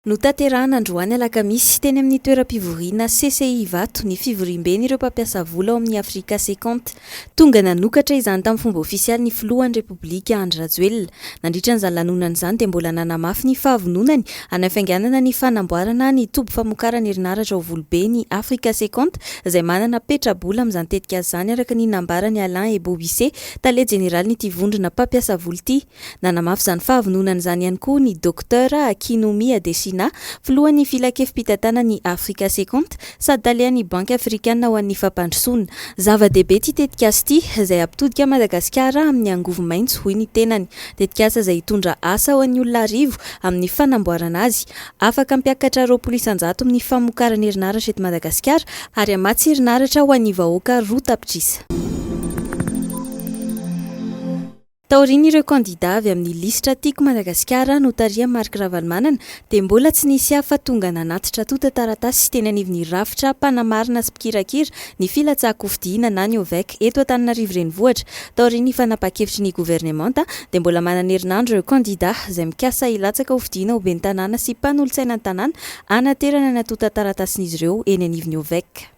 Notanterahina androany alakamisy, teny amin'ny toeram-pivoriana CCI Ivato, ny fivoriamben'ireo mpampiasa vola ao amin'ny Africa Secont. Tonga nanokatra izany tamin'ny fomba ofisialy ny filohan'ny Repoblika, Andry Rajoelina. Nandritra an'izany lanonana izany dia mbola nanamafy ny fahavononany hanafainganana ny fanamboarana ny toby famokarana herinaratra ao Volobe ny Africa Secont izay manana petra-bola amin'izany tetikasa izany araka ny nambaran'i Alain Ebobisse, tale jeneralin'ity vondrona mpampiasa vola ity. Nanamafy izany fahavononany izany ihany koa ny Dokotera Akinwumi Adesina, filohan'ny Filankevi-pitantanan'i Africa Second sady talehan'ny Banky Afrikana ho an'ny Fampandrosoana. Zava-dehibe ity tetikasa ity, izay hampitodika an'i Madagasikara amin'ny angovo maitso, hoy ny tenany. Tetikasa izay hitondra asa ho an'ny olona arivo amin'ny fanamboarana azy. Afaka hampiakatra roapolo isan-jato ny famokarana herinaratra eto Madagasikara ary hamatsy herinaratra ho an'ny vahoaka roa tapitrisa. Taorian'ireo kandidà avy amin'ny lisitra Tiako Madagasikara notarihan'i Marc Ravalomanana dia mbola tsy nisy hafa tonga nanatitra tontan-taratasy teny anivon'ny rafitra mpanamarina sy mpikirakira ny filatsahan-kofidina na ny OVEC eto Antananarivo Renivohitra. Taorian'ny fanapahan-kevitry ny governemanta dia mbola manana herinandro ireo kandidà izay mikasa hilatsaka hofidina ho ben'ny tanàna sy mpanolotsaina ny tanàna hanaterana ny antontan-taratasin'izy ireo eny anivon'ny OVEC.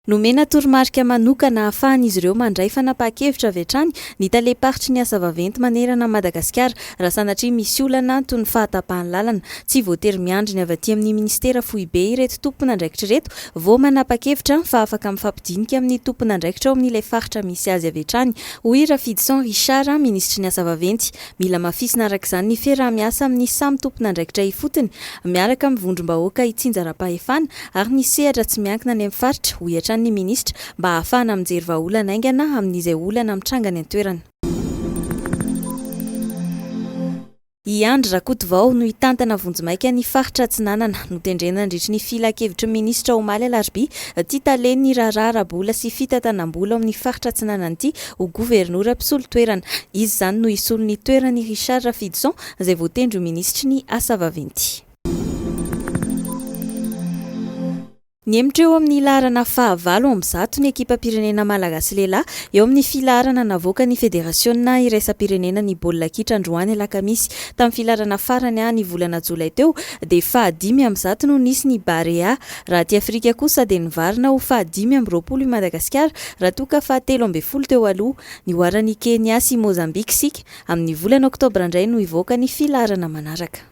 Nomena toromarika manokana ahafahan'izy ireo mandray fanapahan-kevitra avy hatrany ny talem-paritry ny asa vaventy manerana an'i Madagasikara raha sanatria misy olana toy ny fahatapahan'ny lalana. Tsy voatery miandry ny avy aty amin'ny minisitera foibe ireto tompon'andraikitra ireto vao manapa-kevitra fa afaka mifampidinika amin'ny tompon'andraikitra ao amin'ilay faritra misy azy avy hatrany, hoy Rafidison Richard, minisitry ny asa vaventy. Mila hamafisina araka izany ny fiaraha-miasa amin'ny samy tompon'andraikitra ifotony, miaraka amin'ny vondrom-bahoaka itsinjaram-pahefana ary ny sehatra tsy miankina any amin'ny faritra, hoy hatrany ny minisitra, mba hahafahana mijery vahaolana haingana amin'izay olana mitranga any an-toerana. I Andry Rakotovao no hitantana vonjimaika ny faritra Atsinanana. Notendrena nandritry ny filan-kevitry ny minisitra omaly alarobia ity talen'ny raharaha ara-bola sy fitantanam-bola ao amin'ny faritra Atsinanana ity ho governora mpisolo toerana. Izy izany no hisolo ny toeran'i Richard Rafidison izay voatendry ho minisitry ny Asa vaventy. Nihemotra eo amin'ny laharana fahavalo amby zato ny ekipam-pirenena malagasy lehilahy eo amin'ny filaharana navoakan'ny federasiona iraisam-pirenena ny baolina kitra androany alakamisy. Tamin'ny filaharana farany ny volana jolay teo dia fahadimy amby zato no nisy ny Barea Raha aty Afrika kosa dia nivarina ho faha dimy amby roapolo i Madagasikara raha toa ka faha telo ambin'ny folo teo aloha. Nihoaran' i Kenia sy Mozambika isika. Amin' ny volana Oktobra indray no hivoaka ny filaharana manaraka.